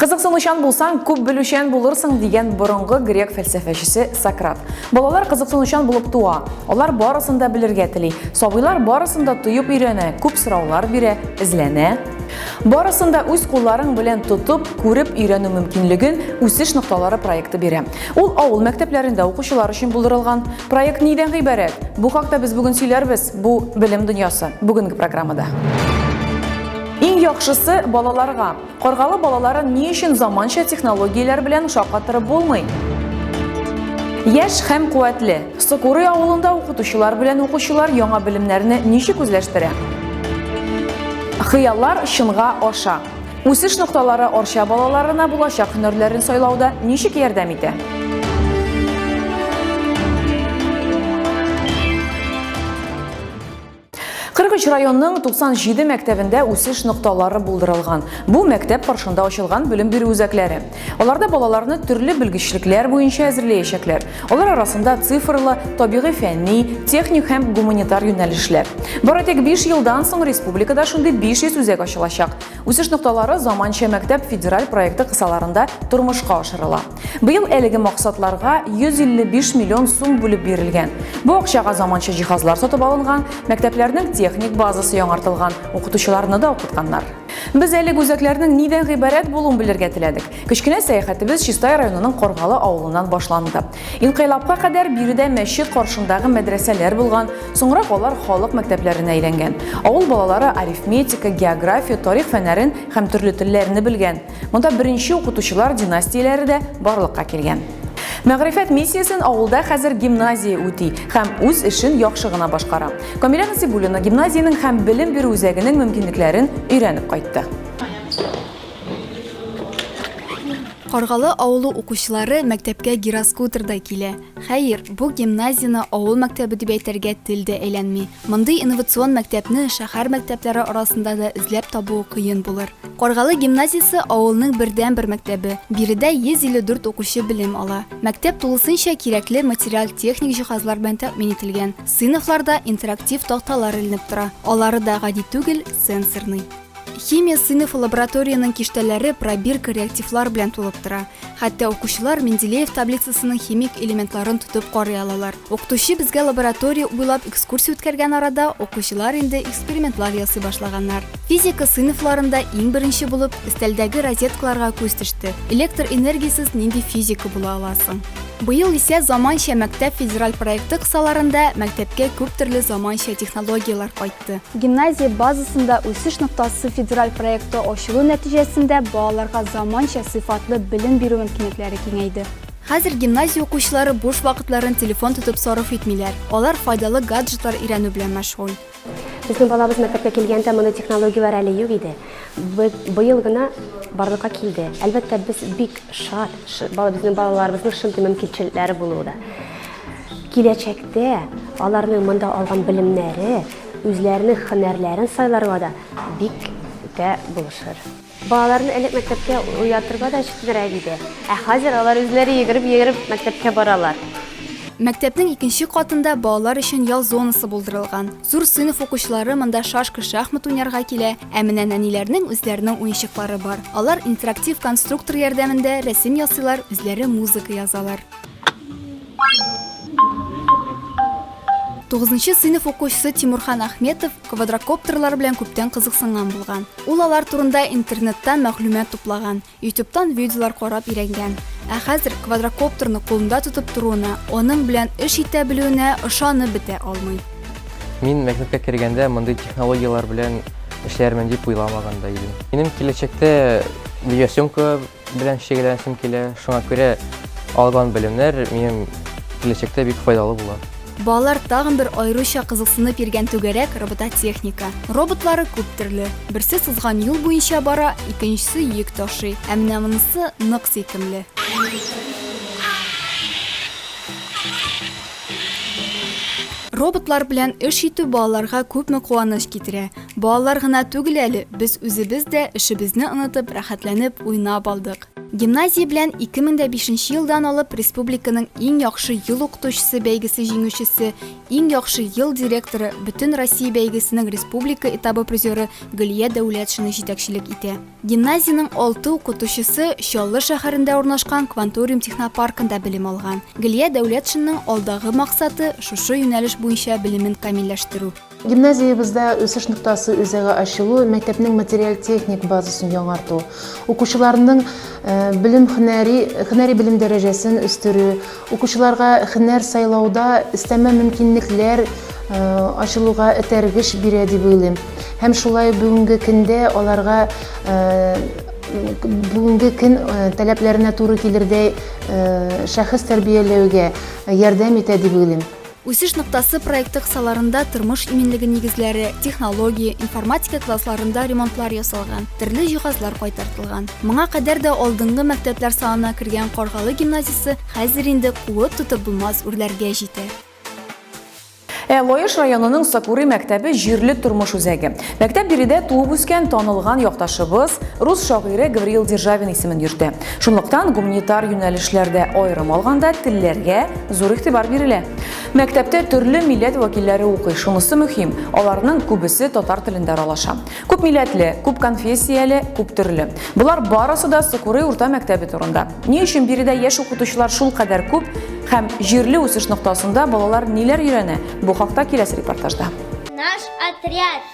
Кызыксынучан булсаң, күп белүчән булырсың дигән борынгы грек фәлсәфәчесе Сократ. Балалар кызыксынучан булып туа. Алар барысын да белергә тели. Сабыйлар барысын да тоеп өйрәнә, күп сораулар бирә, эзләнә. Барысын да үз кулларың белән тотып, күреп өйрәнү мөмкинлеген Үсеш нокталары проекты бирә. Ул авыл мәктәпләрендә укучылар өчен булдырылган. Проект нидән гыйбарәт? Бу хакта без бүген сөйләрбез. Бу белем дөньясы. Бүгенге программада. Иң яхшысы балаларга. Каргалы балаларын ни өчен заманча технологияләр белән шаккатырып булмый? Яшь һәм куәтле. Сокуры авылында укытучылар белән укучылар яңа белемнәрне ничек үзләштерә? Хыяллар чынга аша. Үсеш нокталары Арча балаларына булачак һөнәрләрен сайлауда ничек ярдәм итә? 43 районның 97 мәктәбендә үсеш нокталары булдырылган. Бу мәктәп каршында ачылган белем бирү үзәкләре. Аларда балаларны төрле белгечлекләр буенча әзерләячәкләр. Алар арасында цифрлы, табигый фәнни, техник һәм гуманитар юнәлешләр. Бары тик 5 елдан соң республикада шундый 500 үзәк ачылачак. Үсеш нокталары заманча мәктәп федераль проекты кысаларында тормышка ашырыла. Быел әлеге максатларга 155 миллион сум бүлеп бирелгән. Бу акчага заманча җиһазлар сатып алынган, мәктәпләрнең техник базасы яңартылган, укытучыларны да укытканнар. Без әлеге үзәкләрнең нидән гыйбарәт булуын белергә теләдек. Кечкенә сәяхәтебез Чистай районының Каргалы авылыннан башланды. Инкыйлабка кадәр биредә мәчет каршындагы мәдрәсәләр булган, соңрак алар халык мәктәпләренә әйләнгән. Авыл балалары арифметика, география, тарих фәннәрен һәм төрле телләрне белгән. Монда беренче укытучылар династияләре дә барлыкка килгән. Мәгърифәт миссиясен авылда хәзер гимназия үти һәм үз эшен яхшы гына башкара. Камилә Насибуллина гимназиянең һәм белем бирү үзәгенең мөмкинлекләрен өйрәнеп кайтты. Каргалы авылы укучылары мәктәпкә гироскутерда килә. Хәер, бу гимназияне авыл мәктәбе дип әйтергә тел дә әйләнми. Мондый инновацион мәктәпне шәһәр мәктәпләре арасында да эзләп табу кыен булыр. Каргалы гимназиясе авылның бердәнбер мәктәбе, биредә 154 укучы белем ала. Мәктәп тулысынча кирәкле материаль-техник җиһазлар белән тәэмин ителгән. Сыйныфларда интерактив такталар эленеп тора, алары да гади түгел, сенсорный. Химия сыйныфы лабораториянең киштәләре пробирка реактивлар белән тулып тора. Хәтта укучылар Менделеев таблицасының химик элементларын тотып карый алалар. Укытучы безгә лаборатория буйлап экскурсия үткәргән арада, укучылар инде экспериментлар ясый башлаганнар. Физика сыйныфларында иң беренче булып өстәлдәге розеткаларга күз төште. Электр энергиясез нинди физика була ала соң? Быел исә Заманча мәктәп федераль проекты кысаларында мәктәпкә күп төрле заманча технологияләр кайтты. кайтты. Гимназия базасында үсеш ноктасы федераль проекты ачылу нәтиҗәсендә балаларга заманча сыйфатлы белем бирү мөмкинлекләре киңәйде. Хәзер гимназия укучылары буш вакытларын телефон тотып сарыф итмиләр, алар файдалы гаджетлар өйрәнү белән мәшгуль. Безнең балабыз мәктәпкә килгәндә мондый технологияләр әле юк иде. Быел гына барлыкка килде. Әлбәттә, без бик шат, безнең балаларыбызның шундый мөмкинчелекләре булуы да. Киләчәктә аларның монда алган белемнәре үзләренең хөнәрләрен сайларга да бик тә булышыр. Балаларны элек мәктәпкә уятырга да читенрәк иде, ә хәзер алар үзләре йөгереп-йөгереп мәктәпкә баралар. Мәктәпнең икенче катында балалар өчен ял зонасы булдырылган. Зур сыйныф укучылары монда шашка-шахмат уйнарга килә, ә менә нәниләрнең үзләренең уенчыклары бар. Алар интерактив конструктор ярдәмендә рәсем ясыйлар, үзләре музыка язалар. Тугызынчы сыйныф укучысы Тимурхан Ахметов квадрокоптерлар белән күптән кызыксынган булган. Ул алар турында интернеттан мәгълүмат туплаган, ютубтан видеолар карап өйрәнгән. Ә хәзер квадрокоптерны кулында тотып торуына, аның белән эш итә белүенә ышанып бетә алмый. Мин мәктәпкә кергәндә мондый технологияләр белән эшләрмен дип уйламаган да идем. Минем киләчәктә видеосъемка белән шөгыльләнәсем килә, шуңа күрә алган белемнәр минем киләчәктә бик файдалы була. Балалар тагын бер аеруча кызыксынып йөргән түгәрәк робототехника. Роботлары күп төрле. Берсе сызган юл буенча бара, икенчесе йөк ташый, ә менә монысы нык сөйкемле. Роботлар белән эш итү балаларга күпме куаныч китерә. Балалар гына түгел әле, без үзебез дә, эшебезне онытып, рәхәтләнеп, уйнап алдык. Гимназия белән 2005 нче елдан алып республиканың Иң яхшы ел укытучысы бәйгесе җиңүчесе, Иң яхшы ел директоры, Бөтенроссия бәйгесенең республика этабы призеры Гөлия Дәүләтшина җитәкчелек итә. Гимназиянең алты укытучысы Чаллы шәһәрендә урнашкан Кванториум технопаркында белем алган. Гөлия Дәүләтшинаның алдагы максаты, шушы юнәлеш буенча белемен камилләштерү. Гимназиябездә Үсеш ноктасы үзәге ачылу, мәктәпнең материаль-техник базасын яңарту, укучыларның белем хөнәри, хөнәри белем дәрәҗәсен үстерү, укучыларга хөнәр сайлауда өстәмә мөмкинлекләр ачылуга этәргеч бирә дип уйлыйм. Һәм шулай бүгенге көндә аларга бүгенге көн таләпләренә туры килердәй шәхес тәрбияләүгә ярдәм итә дип уйлыйм. Үсеш ноктасы проекты кысаларында тормыш иминлеге нигезләре, технология, информатика классларында ремонтлар ясалган, төрле җиһазлар кайтартылган. Моңа кадәр дә алдынгы мәктәпләр санына кергән Каргалы гимназиясе хәзер инде куып тотып булмас үрләргә җитә. Ә Лаеш районының Сакури мәктәбе җирле тормыш үзәге. Мәктәп биредә туып үскән танылган якташыбыз, рус шагыйре Гавриил Державин исемен йөртә. Шунлыктан гуманитар юнәлешләрдә аерым алганда телләргә зур игътибар бирелә. Мәктәптә төрле милләт вәкилләре укый, шунысы мөһим, аларның күбесе татар телендә аралаша. Күп милләтле, күп конфессияле, күп төрле. Болар барысы да Сокурый урта мәктәбе турында. Ни өчен биредә яшь укытучылар шулкадәр күп һәм җирле үсеш ноктасында балалар ниләр өйрәнә, бу хакта киләсе репортажда. Наш отряд.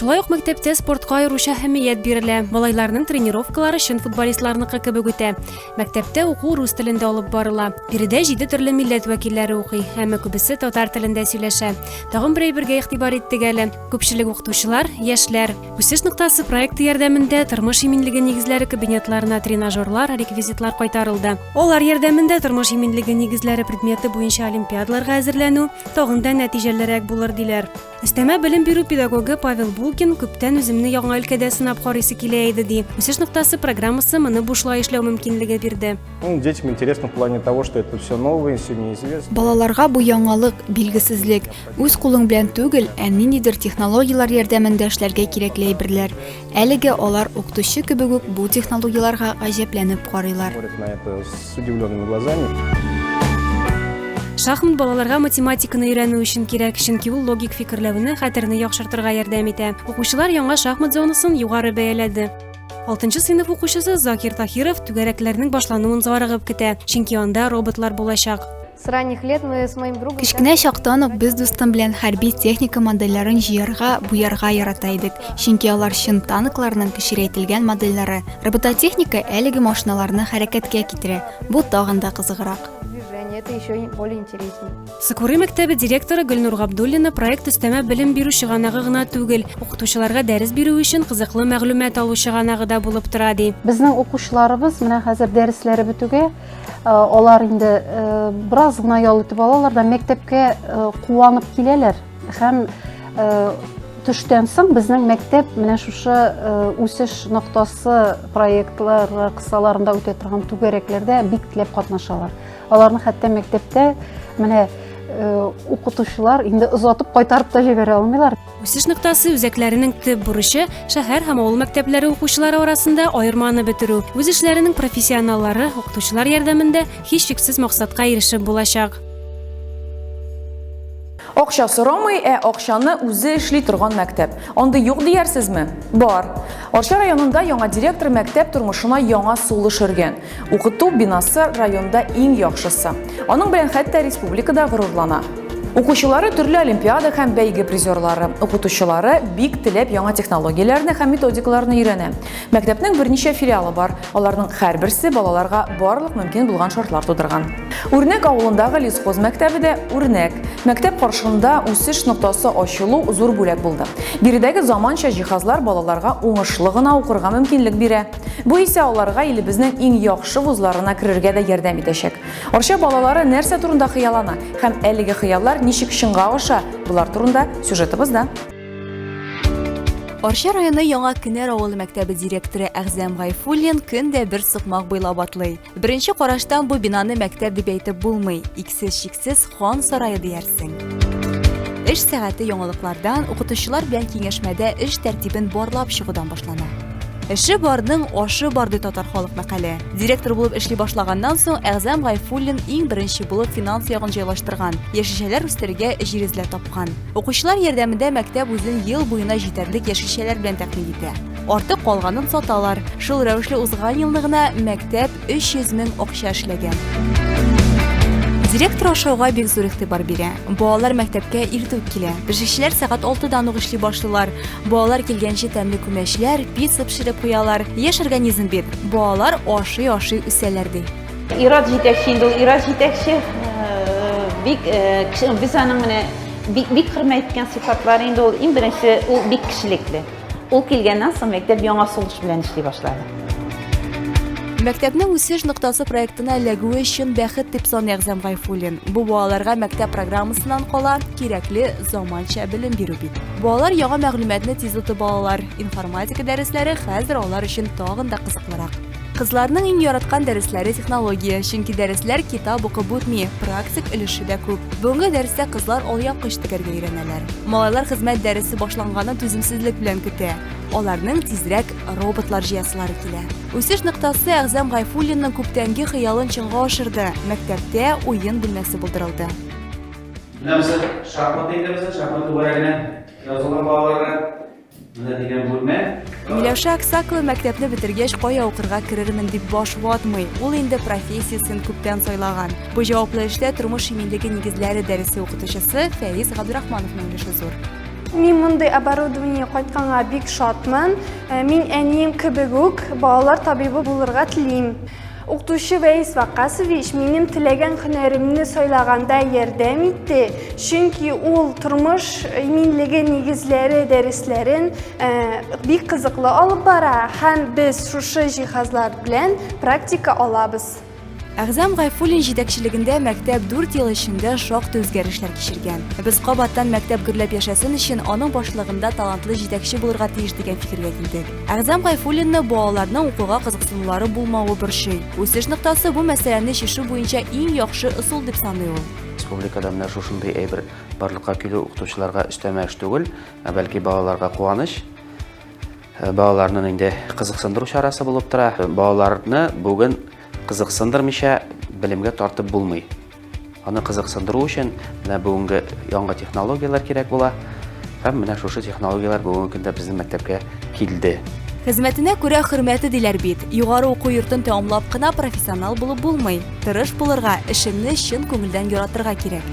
Шулай ук мәктәптә спортка аеруча әһәмият бирелә. Малайларның тренировкалары чын футболистларныкы кебек үтә. Мәктәптә уку рус телендә алып барыла. Биредә җиде төрле милләт вәкилләре укый, әмма күбесе татар телендә сөйләшә. Тагын бер әйбергә игътибар иттек әле. Күпчелек укытучылар, яшьләр. Үсеш ноктасы проекты ярдәмендә тормыш иминлеге нигезләре кабинетларына тренажерлар, реквизитлар кайтарылды. Алар ярдәмендә тормыш иминлеге нигезләре предметы буенча олимпиадаларга әзерләнү тагын да нәтиҗәлерәк булыр, диләр. Өстәмә белем бирү педагогы Павел Булкин күптән үземне яңа өлкәдә сынап карыйсы килә иде ди. Үсеш ноктасы программасы моны бушлай эшләү мөмкинлеге бирде. Ну, детям интересно в плане того, что это все новое, все неизвестно. Балаларга бу яңалык, билгесезлек. Үз кулың белән түгел, ә ниндидер технологияләр ярдәмендә эшләргә кирәкле әйберләр. Әлегә алар укытучы кебек үк бу технологияләргә гаҗәпләнеп карыйлар. Шахмат балаларга математиканы өйрәнү өчен кирәк, чөнки ул логик фикерләүне, хәтерне яхшыртырга ярдәм итә. Укучылар яңа шахмат зонасын югары бәяләде. Алтынчы сыйныф укучысы Закир Тахиров түгәрәкләрнең башлануын зарыгып көтә, чөнки анда роботлар булачак. С ранних лет мы с моим другом... Кечкенә чактан ук без дустым белән хәрби техника модельләрен җыярга, буярга ярата идек, чөнки алар чын танкларның кечерәйтелгән модельләре. Робототехника әлеге машиналарны хәрәкәткә китерә. Бу тагын да кызыграк. это еще более интереснее. Сыкуры мәктәбе директоры Гөлнур Габдуллина проект өстәмә белем бирү чыганагы гына түгел, укытучыларга дәрес бирү өчен кызыклы мәгълүмат алу чыганагы да булып тора, ди. Безнең укучыларыбыз менә хәзер дәресләре бетүгә Алар инде бераз гына ял итеп алалар да мәктәпкә куанып киләләр һәм төштән соң безнең мәктәп менә шушы үсеш ноктасы проектлар кысаларында үтә торган түгәрәкләрдә бик теләп катнашалар. Аларны хәтта мәктәптә менә укытучылар инде озатып кайтарып та җибәрә алмыйлар. Үсеш ноктасы үзәкләренең төп бурычы шәһәр һәм авыл мәктәпләре укучылары арасында аерманы бетерү. Үз эшләренең профессионаллары укытучылар ярдәмендә һичшиксез максатка ирешеп булачак. Акча сорамый, ә акчаны үзе эшли торган мәктәп. Андый юк дияр сезме? Бар. Арча районында яңа директор мәктәп тормышына яңа сулыш өргән. Укыту бинасы районда иң яхшысы. Аның белән хәтта республикада горурлана. Укучылары төрле олимпиада һәм бәйге призерлары, укытучылары бик теләп яңа технологияләрне һәм методикаларны өйрәнә. Мәктәпнең берничә филиалы бар, аларның һәрберсе балаларга барлык мөмкин булган шартлар тудырган. Үрнәк авылындагы лесхоз мәктәбе дә үрнәк. Мәктәп каршында үсеш ноктасы ачылу зур бүләк булды. Биредәге заманча җиһазлар балаларга уңышлы гына укырга мөмкинлек бирә. Бу исә аларга илебезнең иң яхшы вузларына керергә дә ярдәм итәчәк. Арча балалары нәрсә турында хыяллана һәм әлеге хыяллар ничек чынга аша, болар турында сюжетыбызда. Арча районы Яңа Кенәр авылы мәктәбе директоры Әгъзам Гайфуллин көн дә бер сукмак буйлап атлый. Беренче караштан бу бинаны мәктәп дип әйтеп булмый, иксез-чиксез Хан сарае диярсең. Эш сәгате яңалыклардан, укытучылар белән киңәшмәдә эш тәртибен барлап чыгудан башлана. Эше барның ашы бар ди татар халык мәкале. Директор булып эшли башлаганнан соң Әгъзам Гайфуллин иң беренче булып финанс ягын җайлаштырган, яшелчәләр үстерергә җир эзләп тапкан. Укучылар ярдәмендә мәктәп үзен ел буена җитәрлек яшелчәләр белән тәэмин итә. Артык калганын саталар. Шул рәвешле узган елны гына мәктәп 300 мең акча эшләгән. Директор ашауга бик зур игътибар бирә. Балалар мәктәпкә иртүк килә. Пешекчеләр сәгать 6-дан ук эшли башлыйлар. Балалар килгәнче тәмле күмәчләр, пицца пешереп куялар. Яшь организм бит. Балалар ашый-ашый үсәләр, ди. Ират җитәкче инде ул. Ират җитәкче бик без аның менә бик хөрмәт иткән сыйфатлары инде ул иң беренче ул бик кешелекле. Ул килгәннән соң мәктәп яңа сулыш белән эшли башлады. Мәктәпне үсеш ноктасы проектына эләгүе өчен бәхет дип саный Әгъзам Гайфуллин. Бу балаларга мәктәп программасыннан кала кирәкле заманча белем бирү бит. Балалар яңа мәгълүматны тиз отып алалар, информатика дәресләре хәзер алар өчен тагын да кызыклырак. Кызларның иң яраткан дәресләре технология, чөнки дәресләр китап укып үтми, практик өлеше дә күп. Бүгенге дәрестә кызлар алъяпкыч тегәргә өйрәнәләр. Малайлар хезмәт дәресе башланганын түземсезлек белән көтә. Аларның тизрәк роботлар җыясылары килә. Үсеш ноктасы Әгъзам Гайфуллинның күптәнге хыялын чынга ашырды. Мәктәптә уен бүлмәсе булдырылды. Менә без шахмат әйтәбез, шахмат түгәрәгенә язылган балаларга Менә дигән бүлмә. Миләүшә Аксакова мәктәпне бетергәч, кая укырга керермен дип баш ватмый. Ул инде профессиясен күптән сайлаган. Бу җаваплы эштә тормыш иминлеге нигезләре дәресе укытучысы Фәиз Габдрахмановның өлеше зур. Мин мондый оборудование кайтканга бик шатмын. Мин әнием кебек үк балалар табибы булырга телим. Укытучы Вәис Вакасович минем теләгән һөнәремне сайлаганда ярдәм итте, чөнки ул тормыш иминлеге нигезләре дәресләрен э, бик кызыклы алып бара һәм без шушы җиһазлар белән практика алабыз. Әгъзам Гайфуллин җитәкчелегендә мәктәп 4 ел эчендә шактый үзгәрешләр кичергән. Без кабаттан мәктәп гөрләп яшәсен өчен аның башлыгында талантлы җитәкче булырга тиеш дигән фикергә килдек. Әгъзам Гайфуллинны балаларның укуга кызыксынулары булмавы борчый. Үсеш ноктасы бу мәсьәләне чишү буенча иң яхшы ысул дип саный ул. Республикада менә шушындый әйбер барлыкка килү укытучыларга өстәмә эш түгел, ә бәлки балаларга куаныч. Э, балаларны инде кызыксындыру чарасы булып тора. Балаларны бүген кызыксындырмыйча белемгә тартып булмый. Аны кызыксындыру өчен менә бүгенге яңа технологияләр кирәк була. Һәм менә шушы технологияләр бүгенге көндә безнең мәктәпкә килде. Хезмәтенә күрә хөрмәте диләр бит. Югары уку йортын тәмамлап кына профессионал булып булмый. Тырыш булырга, эшеңне чын күңелдән яратырга кирәк.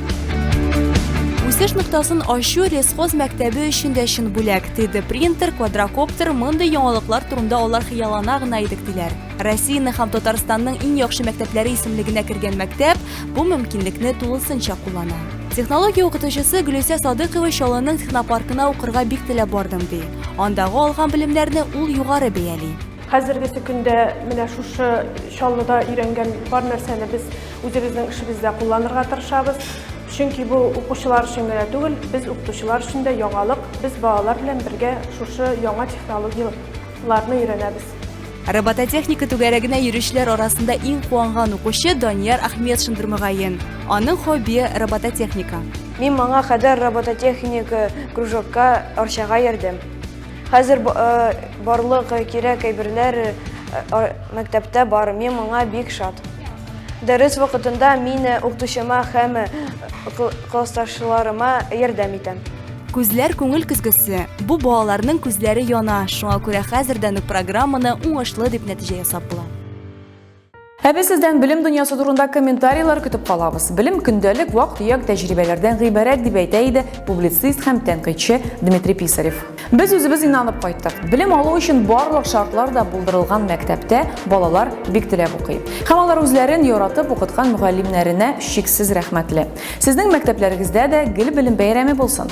Үсеш ноктасын ачу лесхоз мәктәбе өчен дә чын бүләк. 3D принтер, квадрокоптер, мондый яңалыклар турында алар хыяллана гына идек диләр. Россиянең һәм Татарстанның иң яхшы мәктәпләре исемлегенә кергән мәктәп бу мөмкинлекне тулысынча куллана. Технология укытучысы Гөлүсә Садыкова Чаллының технопаркына укырга бик теләп бардым ди. Андагы алган белемнәрне ул югары бәяли. Хәзергесе көндә менә шушы Чаллыда өйрәнгән бар нәрсәне без үзебезнең эшебездә кулланырга тырышабыз. Чөнки бу укучылар өчен генә түгел, без укытучылар өчен дә яңалык. Без балалар белән бергә шушы яңа технологияләрне өйрәнәбез. Робототехника түгәрәгенә йөрүчеләр арасында иң куанган укучы Данияр Ахметшин Дөрмәгаен. Аның хобби робототехника. Мин моңа кадәр робототехника кружокка Арчага йөрдем. Хәзер э, барлык кирәк әйберләр э, мәктәптә бар. Мин моңа бик шат. Дәрес вакытында мин э, укытучыма һәм классташларыма ярдәм итәм. Күзләр күңел көзгесе. Бу балаларның күзләре яна, шуңа күрә хәзердән үк программаны уңышлы дип нәтиҗә ясап була. Ә без сездән белем дөньясы турында комментарийлар көтеп калабыз. Белем көндәлек вак-төяк тәҗрибәләрдән гыйбарәт дип әйтә иде публицист һәм тәнкыйтьче Дмитрий Писарев. Без үзебез инанып кайттык. Белем алу өчен барлык шартлар да булдырылган мәктәптә балалар бик теләп укый. Һәм алар үзләрен яратып укыткан мөгаллимнәренә чиксез рәхмәтле. Сезнең мәктәпләрегездә дә гел белем бәйрәме булсын!